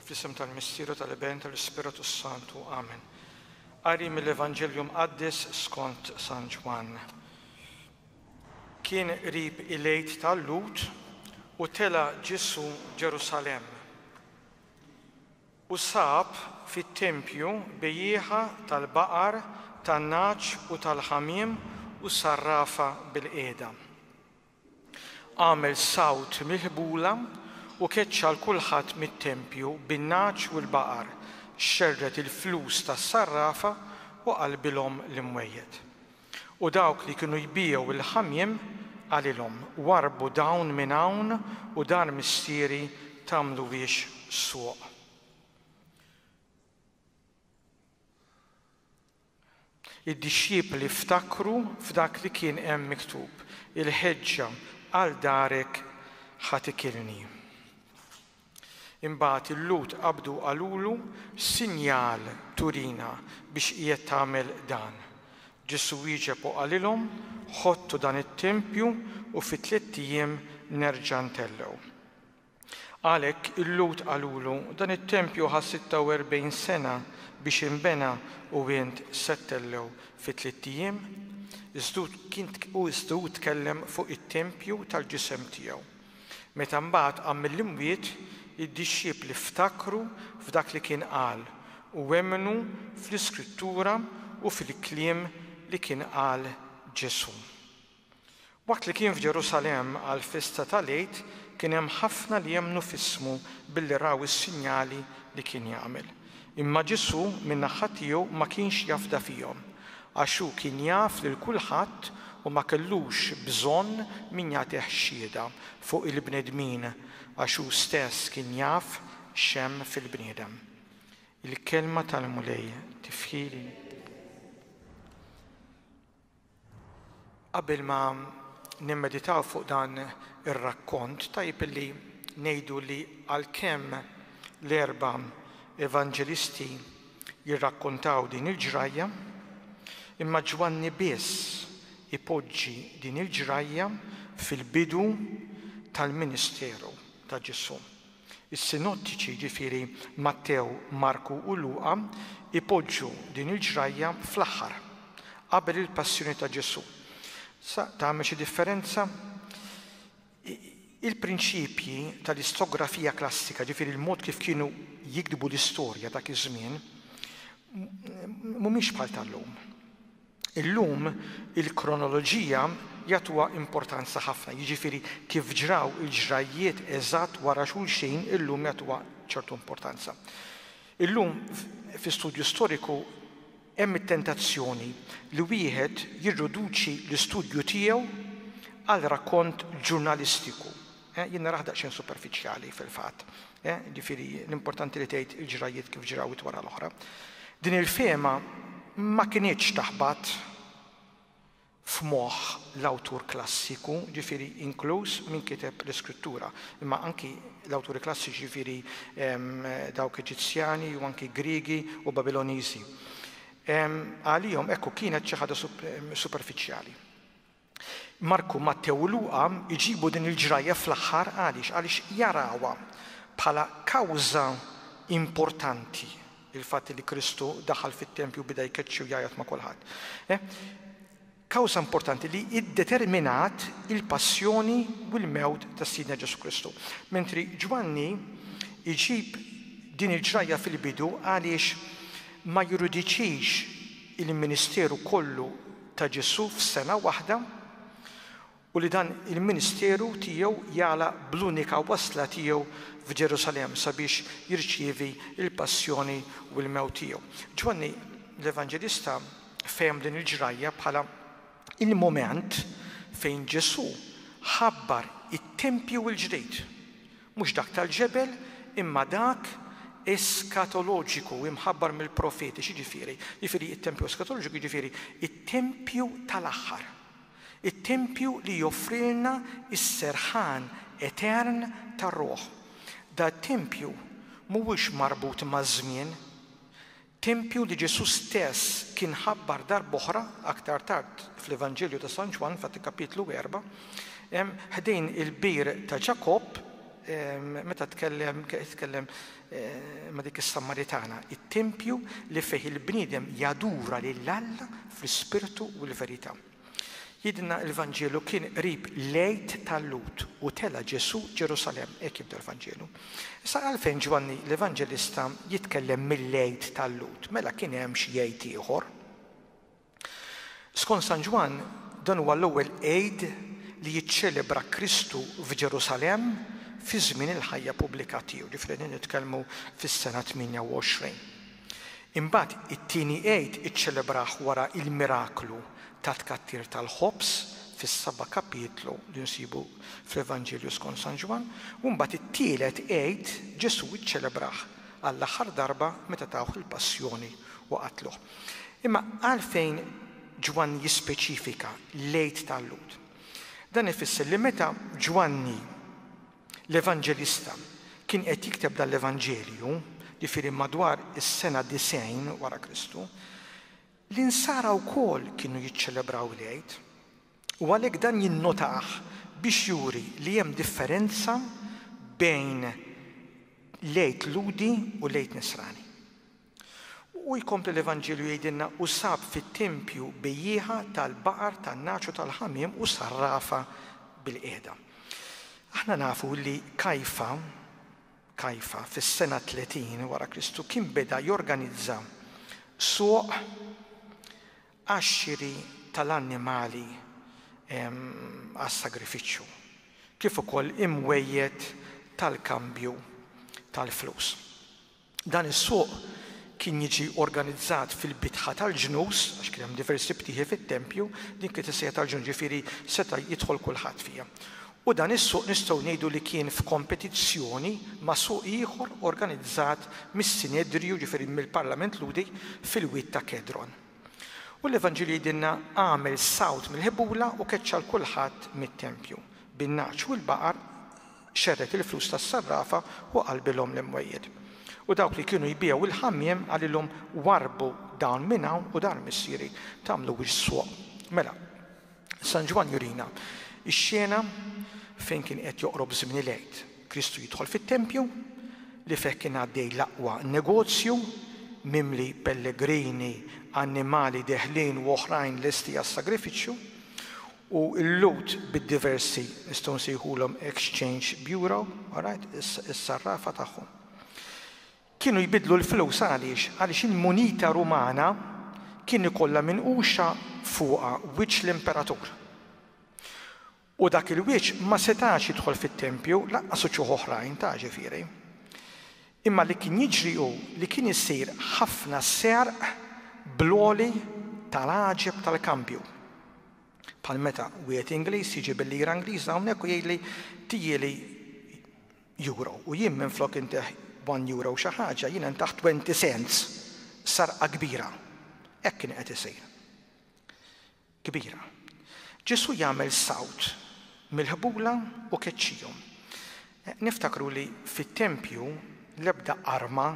Fl-isem tal-Missier u tal-Iben tal-Ispirtu s-Santu. Amen. Qari mill-Evanġelju Mqaddes skont San Ġwann. Kien qrib il-Għid tal-Lhud u tela' Ġesu Ġerusalemm u sab fit-tempju bejjieħa tal-baqar, tan-nagħaġ u tal-ħamiem u sarrafa bil-qiegħda. Agħmel sawt mill-ħbula u keċċa 'l kulħadd mit-tempju bin-nagħaġ u l-baqar, xerred il-flus tas-sarrafa u qalbilhom l-imwejjed. U dawk li kienu jbigħu l-ħamiem, qalilhom, Warrbu dawn minn hawn u dar mistieri tagħmluhiex swq. Id-dixxipli ftakru f'dak li kien hemm miktub, Il-ħeġġa għal darek ħa tikilni. Imbagħad il-Lhud qabdu u qalulu, X'sinjal turina biex qiegħed tagħmel dan? Ġesù wieġeb u qalilhom, Ħottu dan it-tempju u fi tliet ijiem nerġa' ntellgħu. Għalhekk il-Lhud qalulu, Dan it-tempju ħa 46 sena biex inbena u int se ttellgħu fi tliet ijiem? Iżda hu tkellem fuq it-tempju tal-ġisem tiegħu. Meta mbagħad qam mill-imwiet, id-dixxipli ftakru f'dak li kien qal u emmnu fl-Iskrittura u fil-kliem li kien qal Ġesù. Waqt li kien f'Ġerusalemm għall-festa tal-Għid, kien hemm ħafna li emmnu f'ismu billi raw is-sinjali li kien jagħmel. Imma Ġesù, min-naħa tiegħu, ma kienx jafda fihom, għax hu kien jaf lil kulħadd u ma kellux bżonn min jagħtih xhieda fuq il-bnedmin, għax hu stess kien jaf x'hemm fil-bniedem. Il-Kelma tal-Mulej. Tifħir lil Alla! Qabel ma nimmeditaw fuq dan ir-rakkont, tajjeb illi ngħidu li għalkemm l-erba' Evanġelisti jirrakkontaw din il-ġrajja, imma Ġwanni biss ipoġġi din il-ġrajja fil-bidu tal-ministeru ta' Ġesù. Is-Sinottiċi, jiġifieri Mattew, Marku u Luqa, ipoġġu din il-ġrajja fl-aħħar, qabel il-Passjoni ta' Ġesù. Sa tagħmel xi differenza? Il-prinċipji tal-istografija klassika, jiġifieri l-mod kif kienu jiktbu l-istorja dak iż-żmien, mhumiex bħal tal-lum. Illum il-kronoloġija jagħtuha importanza ħafna, jiġifieri kif ġraw il-ġrajjiet eżatt wara xulxin illum jagħtuha ċertu importanza. Illum fi studju storiku hemm it-tentazzjoni li wieħed jirriduċi l-istudju tiegħu għal rakkont ġurnalistiku. Eh, jien naraħ daqsxejn superfiċjali fil-fatt. Eh, ġifieri l-importanti li tgħid il-ġrajjiet kif ġrawit wara l-oħra. Din il-fema ma kinitx taħbat f'moħħ l-awtur klassiku, ġifiri inkluż min kiteb l-iskrittura, imma anki l-awturi klassiċi ġifiri dawk Eġizzjani u anki Grigi u Babiloniżi. Għalihom ekku kienet xi ħaġa superfiċjali. Marku, Mattew u Luqa jġibu din il-ġrajja fl-aħħar għaliex? Għaliex jarawha bħala kawża importanti, il-fatt li Kristu daħal fit-tempju u beda jkeċċi u jgħajjat ma' kulħadd. Kawża importanti li iddeterminat il-passjoni u l-mewt ta' Sidna Ġesù Kristu. Mentri Ġwanni jġib din il-ġrajja fil-bidu għaliex ma jirudixxix il-ministeru kollu ta' Ġesù f'sena waħda u li dan il-ministeru tiegħu jagħlaq bl-unika wasla tiegħu f'Ġerusalemm sabiex jirċievi l-passjoni u l-mewt tiegħu. Ġwanni l-Evanġelista fehem din il-ġrajja bħala l-mument fejn Ġesù ħabbar it-tempju l-ġdid mhux dak tal-ġebel, imma dak eskatoloġiku, imħabbar mill-profeti. X'jiġifieri? Jiġifieri t-tempju eskatoloġiku jiġifieri t-tempju tal-aħħar, it-tempju li joffrilna s-serħan etern tar-ruħ. Dat-tempju mhuwiex marbut maż-żmien. Tempju li Ġesù stess kien ħabbar darb'oħra aktar tard fl-Evanġelju ta' San Ġwann, f'Atti kapitlu erba', ħdejn il-bir ta' Ġakobb, meta tkellem tkellem ma' dik is-Samaritana, it-tempju li fih il-bniedem jadura lil Alla fl-ispirtu u l-verità. Jgħidilna l-Vanġelu, Kien qrib l-Għid tal-Lhud u tela' Ġesù Ġerusalemm, hekk jibda l-Vanġelu. Issa għalfejn Ġwanni l-Evanġelista jitkellem mill-Għid tal-Lhud? Mela kien hemm xi Għid ieħor? Skont San Ġwann, dan huwa l-ewwel Għid li jiċċelebra Kristu f'Ġerusalemm fi żmien il-ħajja pubblika tiegħu, ġifieri qegħdin nitkellmu fis-sena 28. Imbagħad it-Tieni Għid iċċelebrah wara il-miraklu tat-tkattir tal-ħobż fis-saba' kapitlu li nsibu fl-Evanġelju skont San Ġwann, u mbagħad it-Tielet Għid Ġesù iċċelebrah għall-aħħar darba meta tawh il-Passjoni u qatluh. Imma għalfejn Ġwann jispeċifika l-Għid tal-Lhud? Dan ifisser li meta Ġwanni L-Evanġelista kien qed jikteb dan l-Evanġelju, jiġifieri madwar is-sena 90 wara Kristu, l-Insara wkoll kienu jiċċelebraw il-Għid, u għalhekk dan jinnotah biex juri li hemm differenza bejn l-Għid Lhudi u l-Għid Nisrani. U jkompli l-Evanġelju jgħidilna, U sab fit-tempju bejjieħa tal-baqar, tan-nagħaġ u tal-ħamiem u sarrafha bilqiegħda. Aħna nafu li Kajfa, Kajfa, fis-sena 30 wara Kristu kien beda jorganizza suq għax-xiri tal-annimali għas-sagrifiċċju, kif ukoll imwejjed tal-kambju tal-flus. Dan is-suq kien jiġi organizzat fil-bitħa tal-ġnus, għax kien hemm diversi btieħi fit-tempju, din kienet is-sejħa tal-ġnus, jiġifieri seta' jidħol kulħadd fiha. U dan is-suq nistgħu ngħidu li kien f'kompetizzjoni ma' suq ieħor organizzat mis-Sinedriju, jiġifieri mill-parlament Lhudi, fil-wied ta' Kedron. U l-Evanġelju jgħidilna, Għamel sawt mill-ħebula u keċċa 'l kulħadd mit-tempju, bin-nagħaġ u l-baqar, xerred il-flus tas-sarrafa u qalbilhom l-imwejjed. U dawk li kienu jbigħu il-ħammiem qalilhom, 'Warrbu dawn minn hawn u dar missieri tagħmluhiex swaq. Mela, San Ġwann jurina x-xena fejn kien qed joqrob żmien il-Għid. Kristu jidħol fit-tempju, li fih kien għaddej l-aqwa negozju, mimli pellegrini, annimali deħlin u oħrajn lesti għas-sagrifiċċju. u l-Lhud bid-diversi, nistgħu nsejħulhom exchange bureau, all right, is-sarrafa tagħhom, kienu jbiddlu l-flus għaliex? Għaliex il-munita Rumana kien ikollha minquxa fuqha wiċċ l-imperatur. U dak il-wiċċ ma setax jidħol fit-tempju, lanqas uċuħ oħrajn, ta' ġifieri. Imma li kien jiġri hu li kien isir ħafna serq bl-għoli tal-għaġeb tal-kambju. Bħal meta wieħed Ingliż jiġi bil-lira Ingliża hawnhekk u jgħidli tijieli Euro u jien minflok intih one Euro xi ħaġa, jiena ntaħ twenty cents. Sarqa kbira. Hekk kien qed isir. kbira. Ġesù jagħmel sawt mill-ħbula u keċċihom. Niftakru li fit-tempju l-ebda arma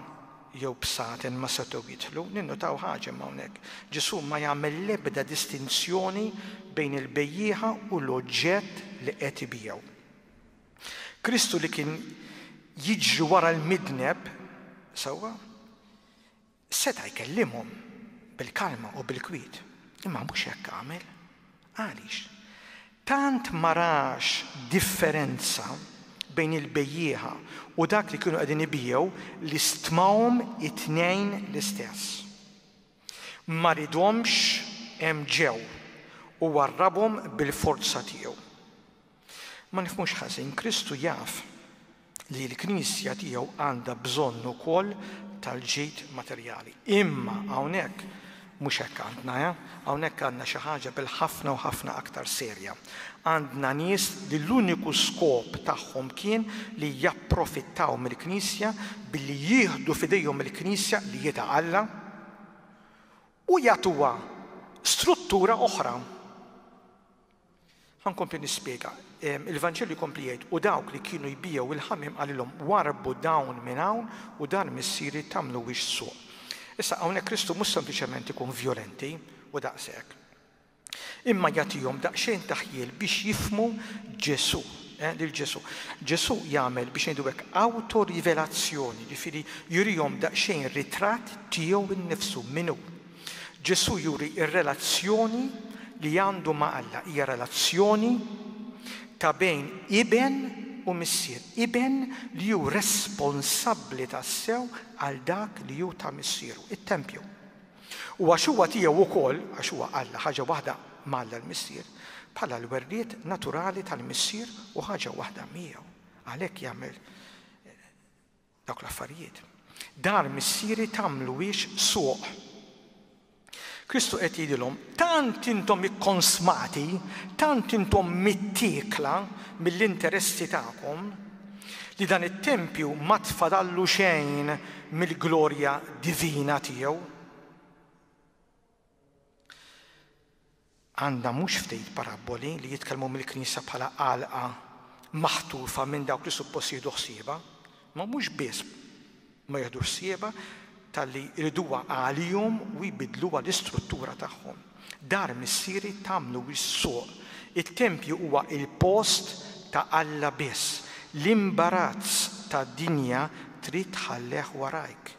jew bsaten ma setgħu jidħlu. Ninnutaw ħaġa imma hawnhekk. Ġesù ma jagħmel l-ebda distinzjoni bejn il-bejjieħa u l-oġġett li qed ibiegħu. Kristu li kien jiġri wara l-midneb, sewwa, Seta' jkellimhom bil-kalma u bil-kwiet, imma mhux hekk għamel. Għaliex? Tant ma rax differenza bejn il-bejjiegħa u dak li kienu qegħdin ibiegħu li stmahom it-tnejn l-istess. Ma ridhomx hemm ġew u warrabhom bil-forza tiegħu. Ma nifhmux ħażin, Kristu jaf li l-Knisja tiegħu għandha bżonn ukoll tal-ġid materjali. Imma hawnhekk mhux hekk għandna, eh? Hawnhekk għandna xi ħaġa bil-ħafna u ħafna aktar serja. Għandna nies li l-uniku skop tagħhom kien li japprofittaw mill-Knisja billi jieħdu f'idejhom il-Knisja li hi ta' Alla u jagħtuha struttura oħra. Ħa nkompli nispjega. Il-Vanġelju jkompli jgħid, U dawk li kienu jbigħu l-ħamiem qalilhom, Warrbu dawn minn hawn u dar missieri tagħmluhiex suq. Issa, hawnhekk Kristu mhux sempliċement ikun vjolenti, u daqshekk. Imma jagħtihom daqsxejn ta' ħjiel biex jifhmu Ġesù, lil Ġesù. Ġesù jagħmel, biex ngħidu hekk, awtorivelazzjoni, jiġifieri jurihom daqsxejn ritratt tiegħu nnifsu, min hu. Ġesù juri r-relazzjoni li għandu ma' Alla. Hija relazzjoni ta' bejn iben u missier. Iben li hu responsabbli tassew għal dak li hu ta' missieru, it-tempju. U għax huwa tiegħu wkoll, għax huwa Alla, ħaġa waħda ma' Alla l-Missier, bħala l-werriet naturali tal-Missier u ħaġa waħda miegħu. Għalhekk jagħmel Dawk l-affarijiet. Dar missieri tagħmluhiex suq. Kristu qed jgħidilhom, tant intom ikkonsmati, tant intom mittiekla mill-interessi tagħkom, li dan it-tempju ma tfadallu xejn mill-glorja divina tiegħu. għandha mhux ftit parabboli li jitkellmu mill-Knisja bħala għalqa maħtufa minn dawk li suppost jieħdu ħsiebha, imma mhux biss ma jiħdux ħsiebha talli jriduha għalihom u jbiddluha l-istruttura tagħhom. Dar Missieri tagħmlu hi s-suq. It-tempju huwa l-post ta' Alla biss. L-imbarazz tad-dinja trid tħallih warajk.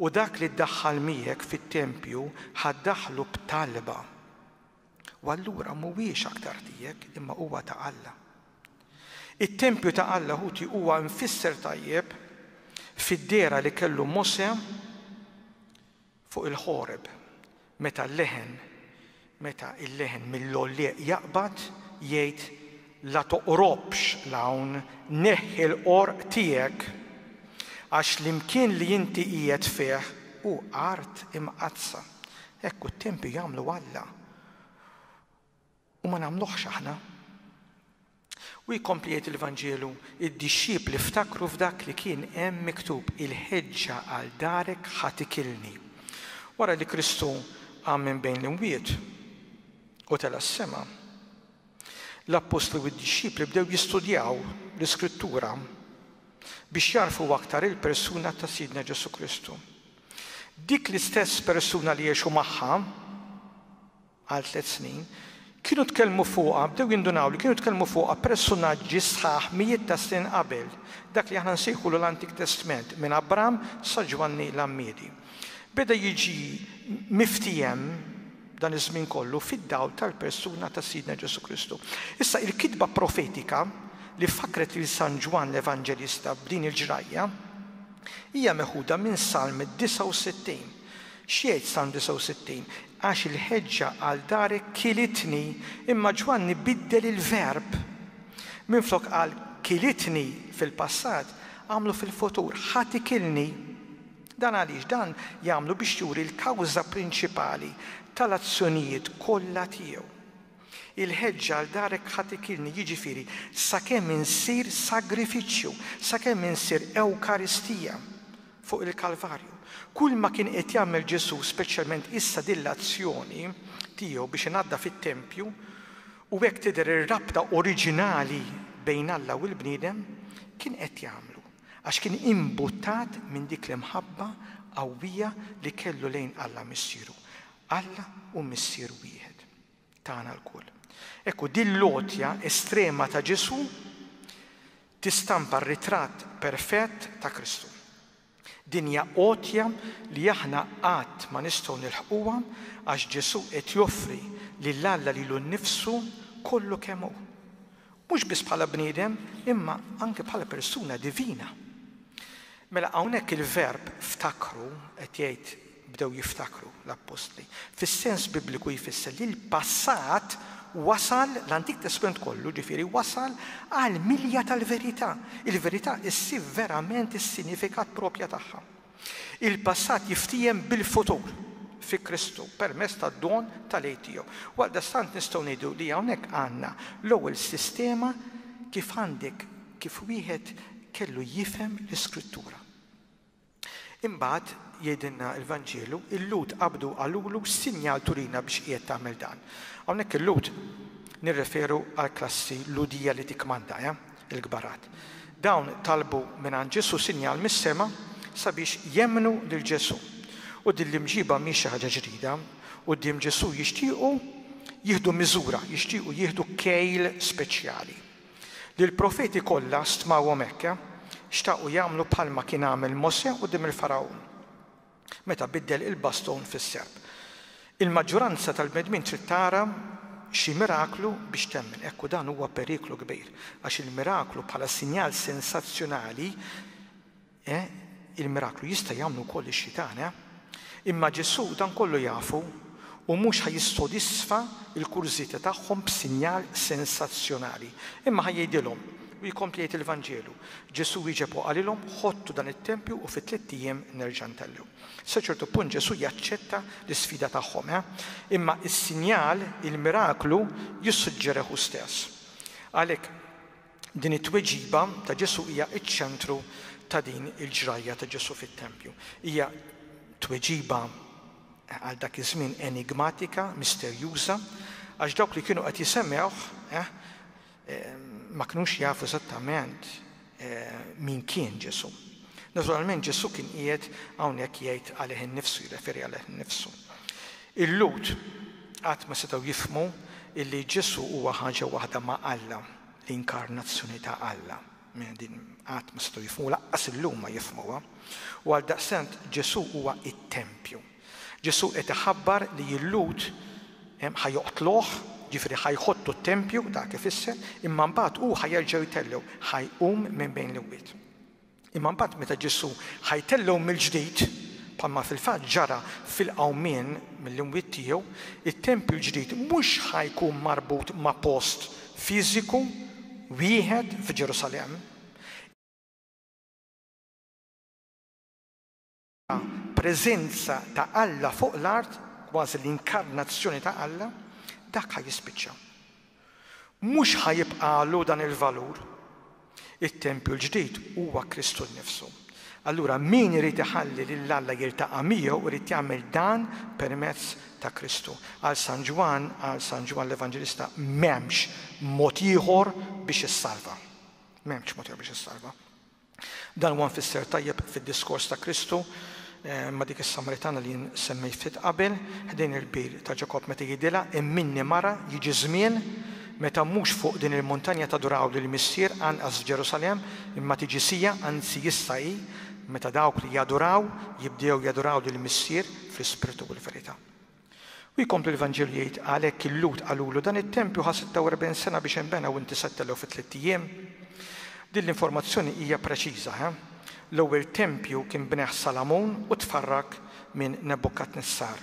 U dak li ddaħħal miegħek fit-tempju ħa ddaħħlu b'talba, u allura mhuwiex aktar tiegħek imma huwa ta' Alla. It-tempju ta' Alla ħuti huwa mfisser tajjeb fid-dehra li kellu Mosè fuq il-Ħoreb. Meta l-leħen, meta il-leħen mill-għollieq jaqbad, jgħid, La toqrobx 'l hawn, neħħi l-qorq tiegħek, għax l-imkien li inti qiegħed fih hu art imqaddsa. Hekk hu t-tempju jagħmlu Alla. U ma nagħmluhx aħna. U jkompli jgħid il-Vanġelu, Id-dixxipli ftakru f'dak li kien hemm miktub, 'Il-ħeġġa għal darek ħa tikilni. Wara li Kristu qam minn bejn l-imwiet u tela' s-sema, l-appostli u d-dixxipli bdew jistudjaw l-Iskrittura biex jagħrfu aktar il-persuna ta' Sidna Ġesù Kristu. Dik l-istess persuna li għexu magħha, għal tliet snin, kienu tkellmu fuqha, bdew jindunaw li kienu tkellmu fuqha persunaġġi sħaħ mijiet ta' snin qabel, dak li aħna nsejħulu l-Antik Testment, minn Abram sa Ġwanni l-Għammiedi. Beda jiġi miftiehem dan iż-żmien kollu fid-dawl tal-persuna ta' Sidna Ġesù Kristu. Issa il-kitba profetika li fakkret lil San Ġwann l-Evanġelista b'din il-ġrajja hija meħuda minn Salm 69 X'jgħid Salm 69? Għax il-ħeġġa għal darek kilitni, imma Ġwanni biddel il-verb. Minflok qal kilitni fil-passat, għamlu fil-futur, ħa tikilni. Dan għaliex? Dan jagħmlu biex juri l-kawża prinċipali tal-azzjonijiet kollha tiegħu. Il-ħeġġa għal darek ħa tikilni, jiġifieri sakemm insir sagrifiċċju, sakemm insir Ewkaristija. fuq il-Kalvarju. Kulma kien qed jagħmel Ġesù, speċjalment issa din l-azzjoni tiegħu biex inaddaf it-tempju, u hekk tidher ir-rabta oriġinali bejn Alla u l-bniedem, kien qed jagħmlu għax kien imbuttat minn dik l-imħabba qawwija li kellu lejn Alla Missieru. Alla u Missier wieħed. tagħna lkoll. Hekk hu, din l-għotja estrema ta' Ġesù tistampa r-ritratt perfett ta' Kristu. Din hija għotja li aħna qatt ma nistgħu nilħquha għax Ġesù qed joffri lil Alla lilu nnifsu kollu kemm hu. Mhux biss bħala bniedem, imma anke bħala persuna divina. Mela hawnhekk il-verb ftakru qed jgħid bdew jiftakru l-appostli. Fis-sens Bibliku jfisser li l-passat wasal, l-Antik Testment kollu, ġifieri wasal għal milja tal-verità. Il-verità ssib verament is-sinifikat proprja tagħha. Il-passat jiftiehem bil-futur fi Kristu permezz tad-don tal-għid tiegħu. Għaldaqstant nistgħu ngħidu li hawnhekk għandna l-ewwel sistema kif għandek kif wieħed kellu jifhem l-Iskrittura. Imbagħad, jgħidilna l-Vanġelu, il-Lhud qabdu qalulu x'sinjal turina biex qiegħed tagħmel dan. Hawnhekk il-Lhud nirreferu għall-klassi Lhudija li tikkmanda, eh, il-kbarat. Dawn talbu mingħand Ġesù sinjal mis-sema sabiex jemmnu lil Ġesù. U din l-imġiba mhix xi ħaġa ġdida, quddiem Ġesù jixtiequ jieħdu miżura, jixtiequ jieħdu kejl speċjali. li l-profeti kollha stmawhom hekk, xtaqu jagħmlu bħalma kien għamel Mosè quddiem il-Fargħun, meta biddel il-baston fis-serp. Il-maġġuranza tal-bnedmin trid tara xi miraklu biex temmen, hekk u dan huwa periklu kbir, għax il-miraklu bħala sinjal sensazzjonali Eh, il-miraklu jista' jagħmlu wkoll ix-xitan, eh? Imma Ġesù dan kollu jafu u mhux ħa jissodisfa l-kurżità tagħhom b'sinjal sensazzjonali, imma ħa jgħidilhom, u jkompli jgħid il-Vanġelu, Ġesù wieġeb u qalilhom, Ħottu dan it-tempju u fi tliet ijiem nerġa' ntellgħu. Sa ċertu punt Ġesù jaċċetta l-isfida tagħhom, eh? Imma s-sinjal, il-miraklu, jissuġġerih hu stess. Għalhekk, Din it-tweġiba ta' Ġesù hija ċ-ċentru ta' din il-ġrajja ta' Ġesù fit-tempju. Hija tweġiba għal dak iż-żmien enigmatika, misterjuża, għax dawk li kienu qed jisemgħuh ma kinux jafu eżattament min kien Ġesù. Naturalment Ġesù kien qiegħed hawnhekk jgħid għalih innifsu, jirreferi għalih innifsu. Il-Lhud qatt ma setgħu jifhmu illi Ġesù huwa ħaġa waħda ma' Alla. l-inkarnazzjoni ta' Alla. Mela din qatt ma setgħu jifhmu u lanqas illum ma jifhmuha. U għaldaqstant Ġesù huwa t-tempju. Ġesù qed iħabbar li l-Lhud ħa joqtluh, jiġifieri ħa jħottu t-tempju, dak ifisser, imma mbagħad hu ħa jerġa' jtellgħu, ħa jqum minn bejn l-imwiet. Imma mbagħad meta Ġesù ħa jtellgħu mill-ġdid, bħalma fil-fatt ġara fil-qawmien mill-imwiet tiegħu, it-tempju l-ġdid mhux ħa jkun marbut ma' post fiżiku wieħed f'Ġerusalemm, ta' preżenza ta' Alla fuq l-art, kważi l-inkarnazzjoni ta' Alla, dak ħa jispiċċa. Mhux ħa jibqagħlu dan il-valur. It-tempju l-ġdid huwa Kristu nnifsu. Allura min irid iħalli lil Alla jiltaqa' miegħu irid jagħmel dan permezz ta' Kristu. Għal San Ġwann, għal San Ġwann l-Evanġelista, m'hemmx mod ieħor biex issalva. M'hemmx mod ieħor biex issalva. Dan huwa mfisser tajjeb fid-diskors ta' Kristu ma' dik is-Samritana li jien semmejt ftit qabel, ħdejn il-bir ta' Ġakobb meta jgħidilha, Imminni mara, jiġi żmien meta mhux fuq din il-muntanja taduraw lill-Missier, anqas f'Ġerusalemm, imma tiġi siegħa, anzi issa hi, meta dawk li jaduraw jibdew jaduraw lill-Missier fl-ispirtu u l-verità. U jkompli l-Vanġelu jgħid, Għalhekk il-Lhud qalulu, Dan it-tempju ħa 46 sena biex inbena u inti settellew fi tlitt ijiem? Din l-informazzjoni hija preċiża, he? L-ewwel tempju kien bnieh Salamun u tfarrak minn Nebukadnessar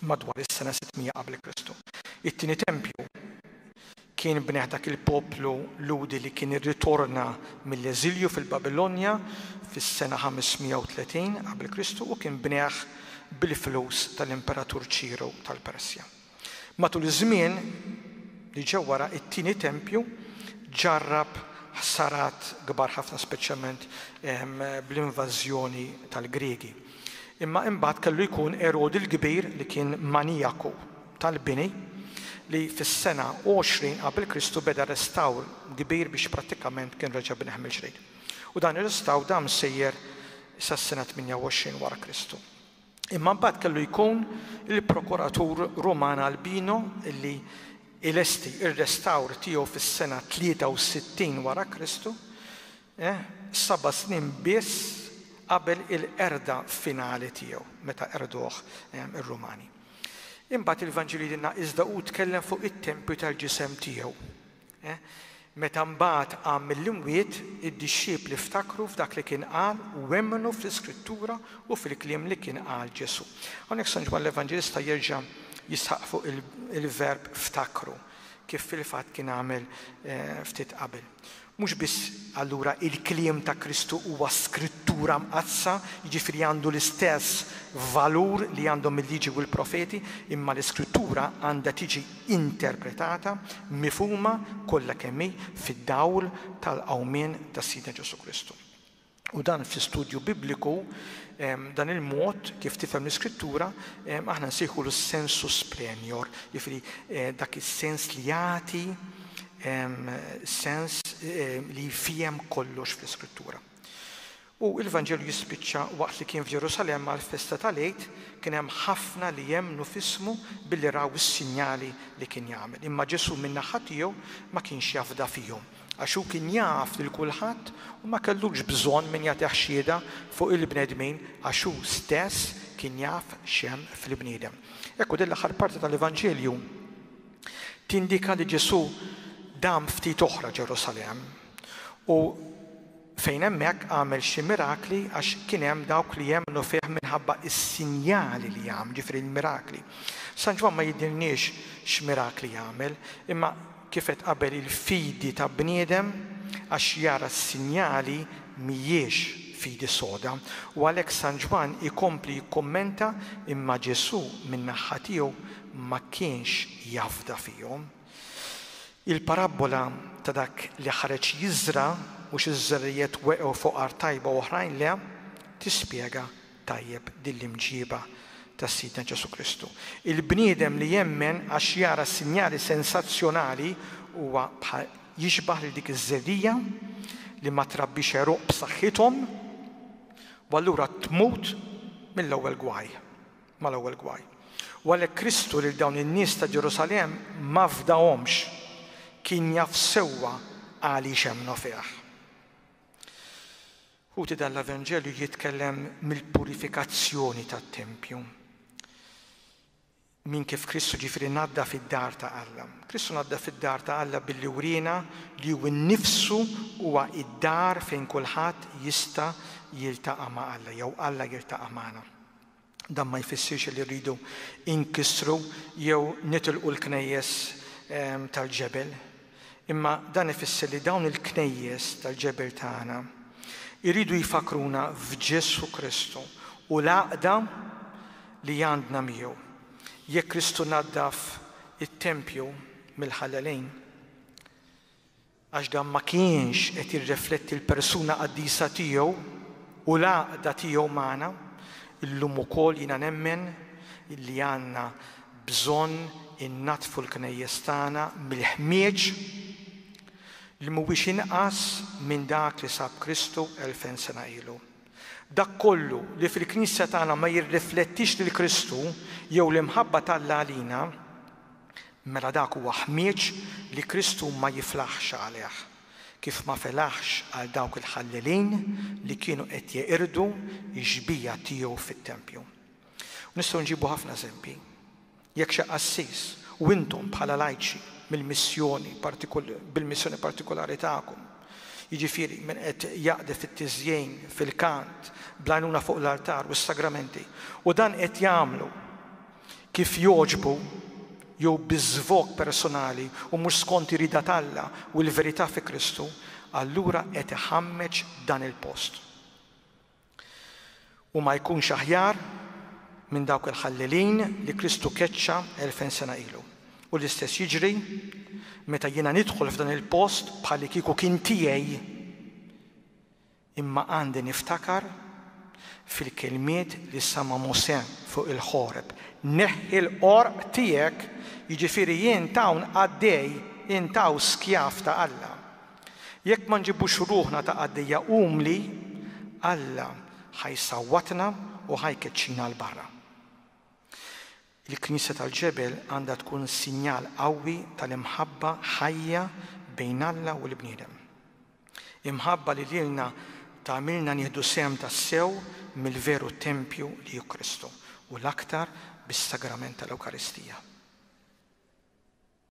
madwar is-sena 600 qabel Kristu. It-tieni tempju Kien bniegħ dak il-poplu Lhudi li kien irritorna mill-eżilju fil-Babilonja fis-sena 530 qabel Kristu u kien bniegħ bil-flus tal-Imperatur Ċiru tal-Persja. Matul iż-żmien li ġew wara, it-tieni tempju ġarrab ħsarat kbar ħafna speċjalment bl-invażjoni tal-Griegi. Imma imbagħad kellu jkun Erodi l-Kbir li kien manijaku. tal-bini li fis-sena 20 qabel Kristu beda restawr kbir biex prattikament kien reġa' bnieh mill-ġdid. U dan ir-restawr dam sejjer sas-sena 28 wara Kristu. Imma mbagħad kellu jkun il-prokuratur Ruman Albino li ilesti r-restawr tiegħu fis-sena 63 wara Kristu Eh, saba' snin biss qabel il-qerda finali tiegħu, meta qerduh ir-Rumani. Imbagħad il-Vanġelu jgħidilna, Iżda hu tkellem fuq it-tempju tal-ġisem tiegħu. Eh, meta mbagħad qam mill-imwiet, id-dixxipli ftakru f'dak li kien qal u emmnu fl-Iskrittura u fil-kliem li kien qal Ġesù. Hawnhekk San Ġwann l-Evanġelista jerġa' jisħaq fuq il-verb ftakru, kif fil-fatt kien għamel eh, ftit qabel. Mhux biss allura il-kliem ta' Kristu huwa Skrittura Mqaddsa, jiġifieri għandu l-istess valur li għandhom il-Liġi u l-Profeti, imma l-Iskrittura għandha tiġi interpretata, mifhuma, kollha kemm hi fid-dawl tal-qawmien tas-Sidna Ġesù Kristu. U dan fi studju Bibliku, dan il-mod kif tifhem l-Iskrittura, aħna nsejħulu s-sensus plenior, jiġifieri dak is-sens li jagħti sens li jfiehem kollox fl-Iskrittura. U l-Vanġelu jispiċċa waqt li kien f'Ġerusalemm għall-festa tal-Għid, kien hemm ħafna li emmnu f'ismu billi raw is-sinjali li kien jagħmel. Imma Ġesù min-naħa tiegħu ma kienx jafda fihom. Għax hu kien jaf lil kulħadd u ma kellux bżonn min jagħtih xhieda fuq il-bnedmin għax hu stess kien jaf x'hemm fl-bniedem. Ekku din l-aħħar parti tal-Evanġelju tindika li Ġesù dam ftit oħra Ġerusalemm u Fejn hemmhekk għamel xi mirakli għax kien hemm dawk li jemmnu fih minħabba s-sinjali li għamel, jiġifieri l-mirakli. San Ġwann ma jidhirniex x'mirakli għamel, imma kif għedt qabel il-fidi ta' bniedem għax jara s-sinjali mhijiex fidi soda. U għalhekk San Ġwann ikompli jikkummenta, imma Ġesù min-naħħa tiegħu ma kienx jafda fihom. Il-parabbola ta' dak li ħareġ jiżra' u xi żerrijiet weqgħu fuq art tajba u oħrajn le, tispjega tajjeb din l-imġieba ta' Sidna Ġesù Kristu. Il-bniedem li jemmen għax jara sinjali sensazzjonali huwa bħal jixbah lil dik iż-żerriegħa li ma trabbix għeruq b'saħħithom u allura tmut mill-ewwel gwaj. mal-ewwel gwaj. U għalhekk Kristu lil dawn in-nies ta' Ġerusalemm ma fdahomx, kien jaf sewwa għaliex emmnu fih. Ħuti dan l-Evanġelju jitkellem mill-purifikazzjoni tat-tempju. Min kif Kristu ġifieri ngħadda fid-dar ta' Alla. Kristu ngħadda fid-dar ta' Alla billi wriena li hu nnifsu huwa id-dar fejn kulħadd jista' jiltaqa' ma' Alla jew Alla jiltaqa' magħna. Dan ma jfissirx li rridu nkissru jew nitilqu l-knejjes tal-ġebel, imma dan ifisser li dawn il-knejjes tal-ġebel tagħna jridu jfakkruna f'Ġesù Kristu u l-għaqda li għandna miegħu. Jekk Kristu naddaf it-tempju mill-ħallalin, għax dan ma kienx qed jirrifletti l-persuna qaddisa tiegħu u l-għaqda tiegħu magħna, illum ukoll jiena nemmen li għandna bżonn innaddfu l-knejjes tagħna mill-ħmieġ li mhuwiex inqas minn dak li sab Kristu elfejn sena ilu. Dak kollu li fil-Knisja tagħna ma jirriflettix lil Kristu jew l-imħabba t'Alla għalina, mela dak huwa ħmieġ li Kristu ma jiflaħx għalih, kif ma felaħx għal dawk il-ħallelin li kienu qed jeqirdu x-xbieha tiegħu fit-tempju. U nistgħu nġibu ħafna eżempji. Jekk xi qassis, u intom bħala lajċi mill-missjoni, bil-missjoni partikulari tagħkom, jiġifieri min qed jaqdi fit-tiżjin, fil-kant, bl-għajnuna fuq l-artar u s-sagramenti, u dan qed jagħmlu kif jogħġbu jew bi żvog personali u mhux skont ir-rieda t'Alla u l-verità fi Kristu, allura qed iħammeġ dan il-post. U ma jkunx aħjar minn dawk il-ħallelin li Kristu keċċa elfen sena ilu. U l-istess jiġri meta jiena nidħol f'dan il-post bħal li kieku kien tiegħi. Imma għandi niftakar fil-kelmiet li sama Mosè fuq il-ħoreb. Neħħi l-qorq tiegħek, jiġifieri jien tawn qaddej, intaw skjav ta' Alla. Jekk ma nġibux ruħna ta' qaddejja umli, Alla ħa jsawwatna u ħa jkeċċina 'l barra. Il-Knisja tal-Ġebel għandha tkun sinjal qawwi tal-imħabba ħajja bejn Alla u l-bniedem. Imħabba li lilna tagħmilna nieħdu sehem tassew mill-veru tempju li hu Kristu, u l-aktar bis-sagrament tal-Ewkaristija.